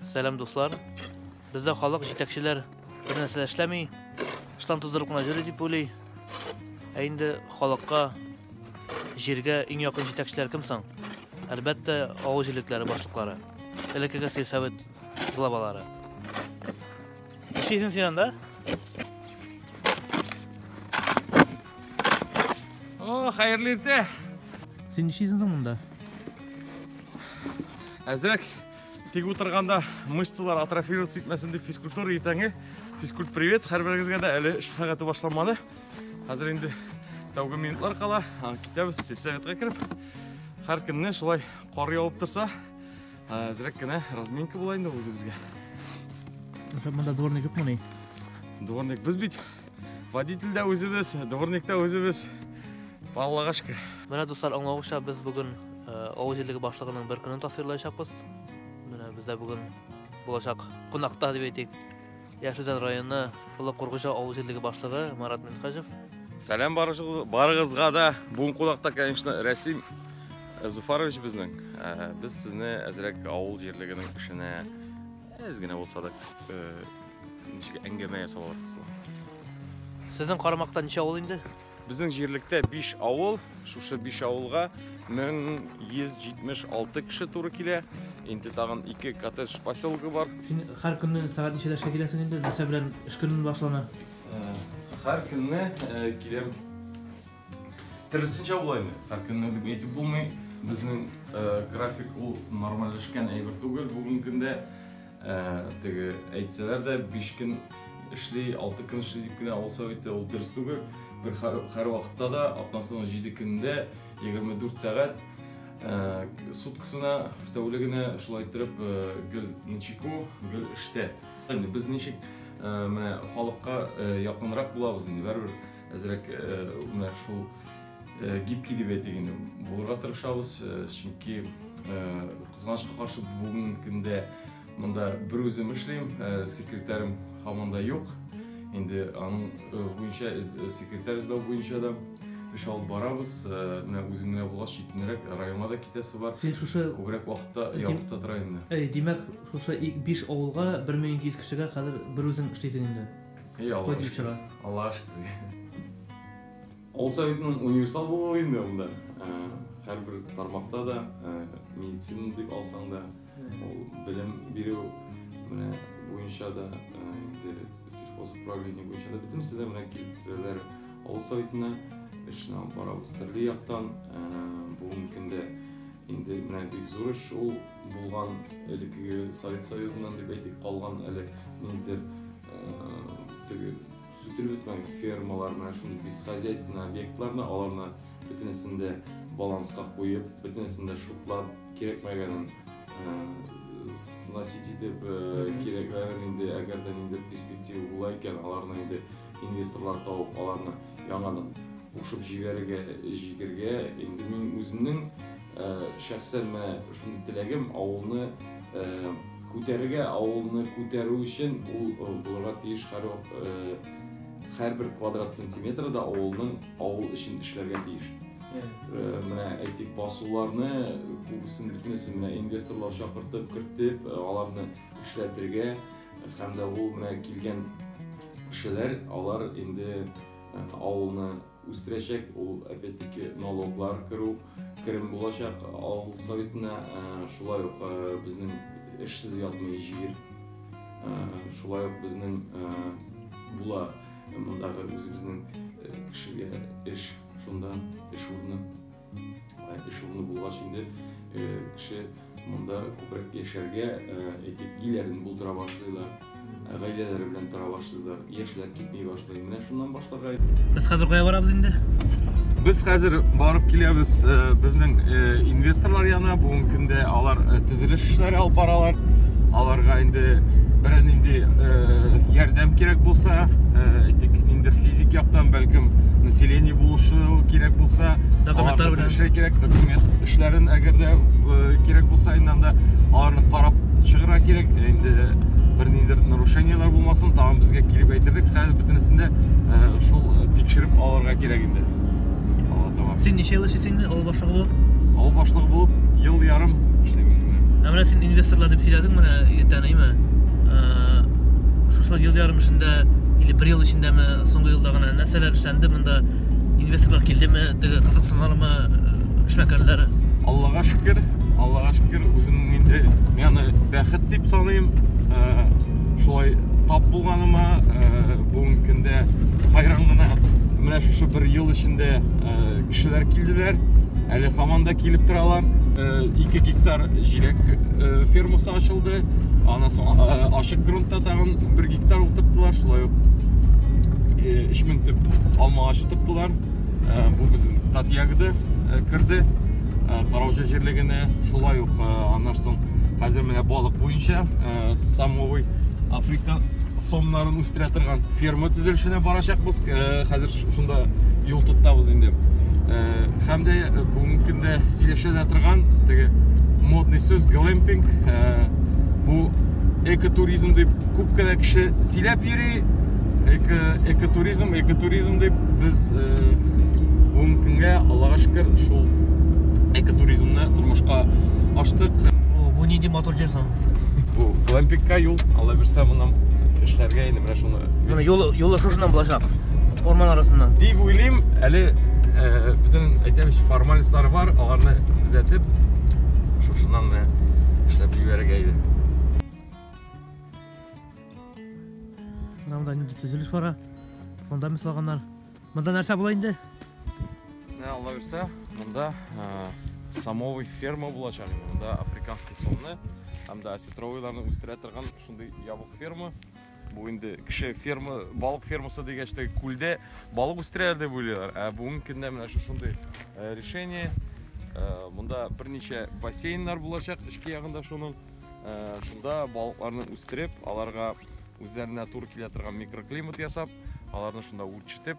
Сәлам дуслар. Бездә халык җитәкчеләр бер нәрсә эшләми, штан тудырып кына йөри дип уйлый. Ә инде халыкка, җиргә иң якын җитәкчеләр кем соң? Әлбәттә, авыл җирлекләре башлыклары. Элеккеге сельсовет главалары. Эшлисең син анда? О, хәерле иртә. Син эшлисең монда? Әзрәк тик утырганда мышцалар атрофироваться итмәсен дип физкультура иртәнге физкульт привет һәрберегезгә дә әле эш сәгате башланмады хәзер инде тәүге минутлар кала китәбез сельсоветка кереп һәр көнне шулай кар явып торса әзрәк кенә разминка була инде үзебезгә монда дворник юкмы ни дворник без бит Водитель дә үзебез, дворник та үзебез. Аллага шөкер. Менә дуслар, аңлавыгызча, без бүген э, авыл җирлеге башлыгының бер көнен тасвирлаячакбыз. Менә бездә бүген булачак кунакта дип әйтик. Яшүзән районы Олы Кургыжа авыл җирлеге башлыгы Марат Минхажев. Сәлам барыгызга да. Бүгін кунакта, конечно, Рәсим э, Зуфарович безнең. Э, без сезне әзрәк авыл җирлегенең эшенә әз генә булса да Ничек әңгәмә ясап алырбыз ул? Сезнең карамакта ничә авыл инде? Безнең җирлектә 5 авыл, шушы 5 авылга 1176 кеше туры килә. Инде тагын 2 коттедж поселогы бар. Син һәр көнне сәгать ничәдә эшкә киләсең инде? Нәрсә белән эш көнен башлана? Һәр көнне киләм. Тырысынча булаймы? Хәркенне дип әйтеп булмый. Безнең э, график ул нормальләшкән әйбер түгел. Бүгенге көндә э, теге әйтсәләр дә 5 көн эшли, 6 көн эшли дип кенә ул совете ул дөрес түгел. Бер һәр вакытта да атнасының 7 көнендә 24 сәгать э, суткасына, тәүлегенә шулай иттереп гел ничеку, гел эштә. Без ничек менә халыкка якынрак булабыз инде, бәрбер Әзрәк менә шул гибкий дип әйтик инде булырга тырышабыз, чөнки кызганычка каршы бүгенге көндә монда бер үзем эшлим, секретарем һаман да юк. Инде аның буенча секретарь эзләү буенча да эш алып барабыз. Менә үзем генә булгач, читенрәк районга да китәсе бар. Син шушы күбрәк вакытта якытта тора инде. Әй, димәк, шушы 5 авылга 1200 кешегә хәзер бер үзең эшлисең инде. Эй, Аллаһ Кой шөкер. Аллаһ шөкер. Ул советның универсал булуы инде ул да. Һәрбер тармакта да, медицина дип алсаң да, ул белем бирү менә буенча да, инде сельхоз управление буенча да бөтенесе дә менә килтерәләр. Авыл советына эшне алып барабыз. Төрле яктан бүгенге көндә инде менә бик зур эш ул Булган элеккеге Совет Союзыннан дип әйтик, калган әле ниндидер теге сүтелеп бетмәгән фермалар, менә шундый бесхозяйственный объектларны аларны бөтенесен дә баланска куеп, бөтенесен дә шутлап, кирәкмәгәнен сносить итеп, кирәкләрен инде, әгәр дә ниндидер перспектива була икән, аларны инде инвесторлар табып, аларны яңадан кушып җибәрергә, җигергә, инде мин үземнең Э, шәхсән менә шундый теләгем авылны э, күтәрергә авылны күтәрү өчен ул э, булырга тиеш һәр һәрбер квадрат сантиметры да авылның авыл өчен эшләргә тиеш менә әйтик басуларны күбесен бөтенесен менә инвесторлар чакыртып кертеп аларны эшләтергә һәм дә ул менә килгән кешеләр алар инде авылны Үстерәчәк ул опять-таки налоглар керү, керем булачак авыл советына, шулай ук безнең эшсез ятмый җир, шулай ук безнең була мондагы үзебезнең кешегә эш, шунда эш урыны. Эш урыны булгач инде кеше монда күбрәк яшәргә әйтеп өйләрен булдыра башлыйлар. Гаиләләре белән тора башлыйлар. Яшьләр китми башлый. Менә шуннан башларга. Без хәзер кая барабыз инде? Без хәзер барып киләбез безнең инвесторлар янына. Бүгенге көндә алар төзелеш эшләре алып баралар аларга инде берәр нинди э, ярдәм кирәк булса э, әйтик ниндидер физик яктан бәлкем население булышу кирәк булса документлар белән эшләр кирәк документ эшләрен әгәр дә э, кирәк булса инде анда аларны карап чыгарга кирәк инде бер ниндидер нарушениелар булмасын тагын безгә килеп әйтерлек хәзер бөтенесен дә шул тикшереп алырга кирәк инде син ничә ел эшлисең инде Булып. Авыл башлыгы булып ел ярым эшлим. Ә менә син инвесторлар дип сөйләдең менә иртән, әйме? Шушы ел ярым эчендә или бер ел эчендәме, соңгы елда гына нәрсәләр эшләнде монда? Инвесторлар килдеме? Теге кызыксынганымы эшмәкәрләр? Аллага шөкер, Аллага шөкер, үзем инде мені бәхет дип саныйм. Шулай тап булганыма бүгенге көндә хайран гына. Менә шушы бер ел эчендә кешеләр килделәр, әле хаман да килеп торалар. 2 э, гектар җиләк э, фермасы ачылды. Аннан соң э, ачык грунтта тагын 1 гектар утырттылар, шулай ук 3000 төп алма ачы тоттылар. Бу безнең тат ягыды кирде. Караучы җирлегенә шулай ук аннан соң хәзер менә балык буенча самовый Африка сомнарын үстерә торган ферма төзелешенә барачакбыз. Хәзер шунда юл тотабыз инде һәм дә бүгенге көндә сөйләшә дә торган теге модный сүз глэмпинг бу экотуризм дип күп кенә кеше сөйләп йөри эко экотуризм экотуризм дип без бүгенге көнгә аллага шөкер шул экотуризмны тормышка аштык бу нинди мотор җир соң бу глэмпингка юл алла бирса моннан эшләргә инде Менә шуны. Менә юлы юлы шушыннан булачак. Орман арасыннан. Дип уйлыйм, әле э, бөтен әйтәбез формальностьлар бар, аларны төзәтеп шушыннан да эшләп җибәрергә иде. Менә монда нинди төзелеш бара. Фундамент салганнар. Монда нәрсә була инде? Менә Алла бирсә, монда э, самовый ферма булачак. Монда африканский сомны һәм дә осетровыйларны үстерә торган шундый ябык ферма. Бу инде кеше ферма, балык фермасы дигәч тә күлдә балык үстерәләр дип уйлыйлар. Ә бүгенге көндә менә шушындый э, решение. Э, Монда берничә бассейннар булачак эчке ягында шуның. Э, Шунда балыкларны үстереп, аларга үзләренә туры килә торган микроклимат ясап, аларны шунда үрчетеп,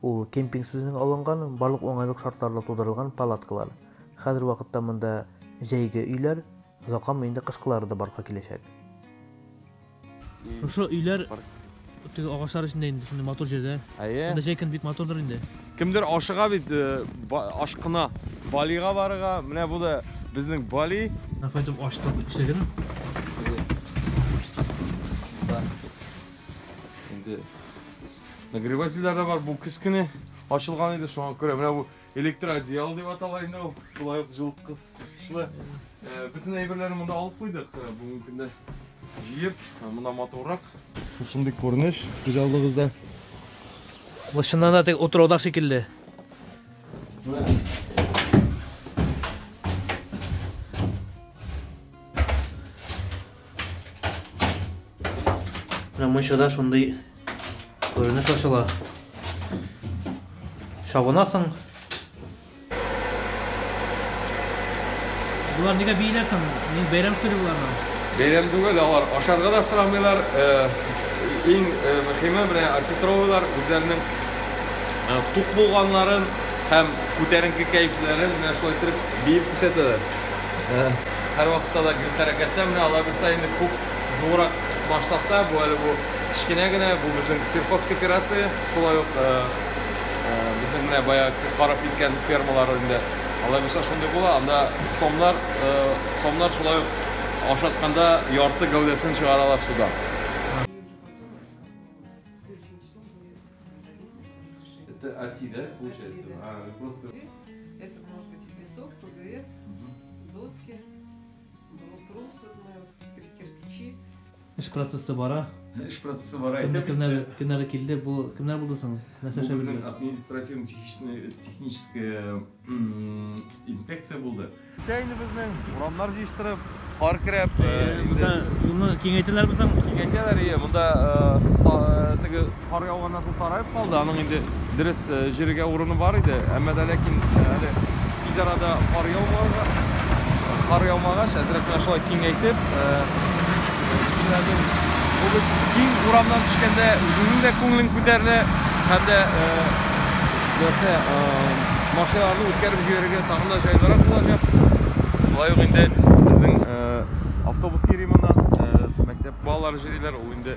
Ул, кемпинг сүзенең алынган, барлык уңайлык шартларда тудырылган палаткалар. Хәзер вакытта монда җәйге өйләр, озакламый инде кышкылары да барлыкка киләчәк. Шушы өйләр теге агачлар эчендә инде, шундый матур җирдә. Әйе. Монда җәй көн бик матурдыр инде. Кемдер ашыга бит, ашкына. Балига барырга, менә бу да безнең Бали. Кайтып ачтык ишеген. Инде Нагревательләр дә бар, бу кескене ачылган иде, шуңа күрә менә бу электроодеяло дип атала инде ул. Шулай ук җылыткычлы. Э, бөтен әйберләрне монда алып куйдык. Э, бүгенге көндә җыеп, э, монда матуррак. Шундый күренеш хуҗалыгыбызда. Бу чыннан да тек утрауда шикелле. Менә мунчада шундый Күренеш ачыла. Чабынасың. Булар нигә бийләсең? Мин бәйрәм сүре булармын. Бәйрәм түгел, алар ашарга да сорамыйлар. Э, иң э, мөхиме менә осетровлар үзләренең э, тук булганларын һәм күтәренке кәйфләрен менә шулай итеп биеп күрсәтәләр. Һәр вакытта да гел хәрәкәттә менә алар булса инде күп зуррак масштабта, бу әле бу кечкенә генә, бу безнең сельхозкооперация, шулай ук э, э, безнең менә бая карап киткән фермалар инде. Алай булса шундый була, анда сомнар, э, сомнар шулай ук ашатканда ярты гәүдәсен чыгаралар суда. Это АТИ, да, получается? А, просто... Это может быть и песок, ПГС, доски. Эш процессы бара. Эш процессы бара. Кемнәр кемнәр кемнәр килде? Бу кемнәр булды соң? Нәрсә эшләп Безнең административный технический техническая инспекция булды. Китә инде безнең урамнар җыештырып, кар керәп, инде юлны киңәйтәләр бу соң. Киңәйтәләр, ие, монда теге Кар яуганнан соң тараеп калды. Аның инде дөрес җиргә урыны бар иде. Әмма дә ләкин әле тиз арада кар яумага, кар яумагач, әзрәк кенә шулай киңәйтеп, бүген киң урамнан төшкәндә үзеңнең дә күңелең күтәрелә һәм дә нәрсә машиналарны үткәреп җибәрергә тагын да җайлырак булачак. Шулай ук инде безнең автобус йөри моннан, мәктәп балалары җырлыйлар, ул инде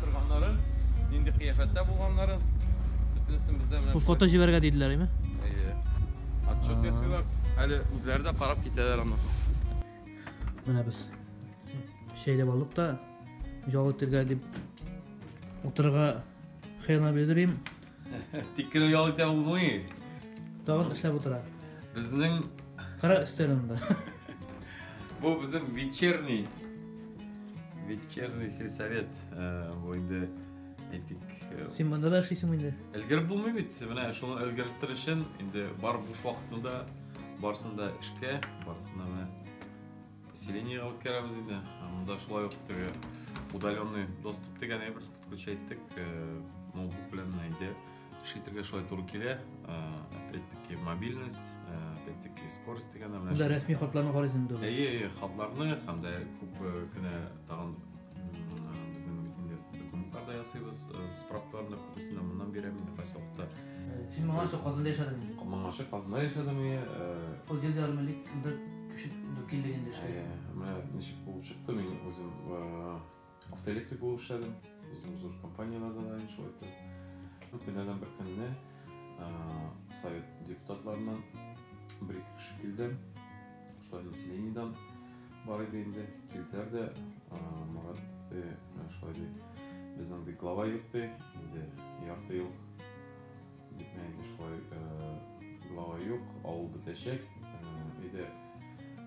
Торганнары, нинди кыяфәттә булганнары, бөтенесен бездә менә. Бу фото җибәргә диделәр, әйме? Әйе. Отчет ясыйлар. Әле үзләре дә карап китәләр аннан соң. Менә без шәйләп алдык та, җал итергә дип утырырга хыяна белдерим. Тиккерәү ял итә ул буй. Тагын эшләп утыра. Безнең кара өстәлендә. Бу безнең вечерний вечерний сельсовет. Э, бу инде әйтик. Э, Син монда да эшлисең инде. Элгереп булмый бит. Менә шуны элгереп төр өчен инде бар буш вакытында барсында эшкә, барсында менә Поселениега үткәрәбез инде. Монда шулай ук теге удаленный доступ дигән әйбер подключа иттек. Э, ноутбук белән инде эшли торган шулай туры килә. Э, опять-таки мобильность, э, опять-таки скорость дигән менә. Монда рәсми хатларны карыйсыз инде. Әйе, әйе, хатларны һәм дә күп кенә тагын безнең инде документлар да ясыйбыз. Справкаларны күбесен моннан бирәм инде поселокта. Син моңарчы Казанда яшәдеңме? Моңарчы Казанда яшәдемме? Ул җир ярымлык Көче килде инде эшләр. Ә, менә ничек булып чыкты, мин үзем автоэлектрик булып эшләдем. Зур зур компанияләрдә дә инде шулай итте. Көннәрдән бер көнне совет депутатларыннан бер ике кеше килде. Шулай населениедән бар иде инде. Килделәр дә Марат шулай ди. Безнең ди глава юк ди. Инде ярты ел Дип мин инде шулай глава юк, авыл бетәчәк. Өйдә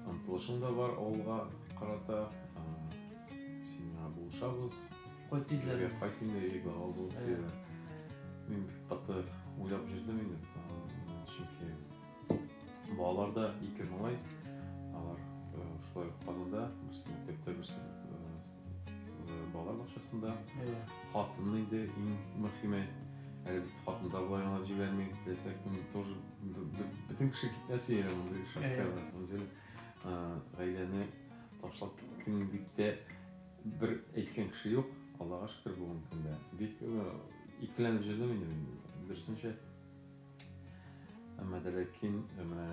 омтылышым да бар авылга карата. Син миңа булышабыз. Кайт диделәр. Кайт инде, или глава бул диделәр. Мин бик каты уйлап җөрдем инде, чөнки Балаларда ике малай, алар шулай ук Казанда, берсе мәктәптә, берсе балалар бакчасында. Хатынны инде иң мөхиме, әле бит хатын да болай гына җибәрми, теләсә кем тоже бөтен кеше китмәсе әле мондый шапка, на самом деле. Гаиләне ташлап киткән дип тә бер әйткән кеше юк, Аллага шөкер, бүгенге көндә. Бик икеләнеп җөрдем инде мин, дөресенчә. Әмма дә ләкин э, менә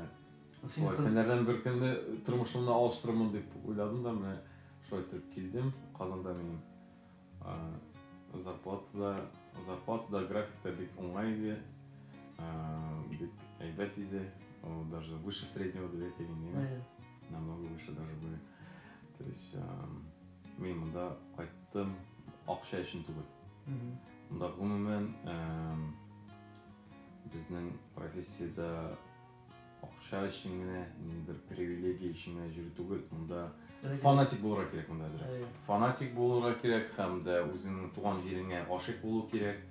шулай көннәрдән бер көнне тормышымны алыштырырмын дип уйладым да менә шулай итеп килдем. Казанда минем зарплата да, зарплата да, график та бик уңай иде. Бик әйбәт иде. Ул даже выше среднего дип әйтә инде. Намного выше даже были. То есть мин монда кайттым акча өчен түгел. Монда гомумән Безнең профессиядә акча өчен генә, ниндидер привилегия өчен генә йөрү түгел, монда фанатик булырга кирәк монда әзрәк. Әйе. Фанатик булырга кирәк һәм дә үзеңнең туган җиреңә гашыйк булу кирәк.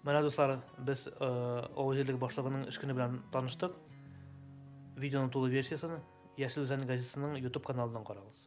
Менә дуслар, без э, авыл җирлеге башлыгының эш көне белән таныштык. Видеоның тулы версиясен Яшел Үзән газетасының YouTube каналыннан карагыз.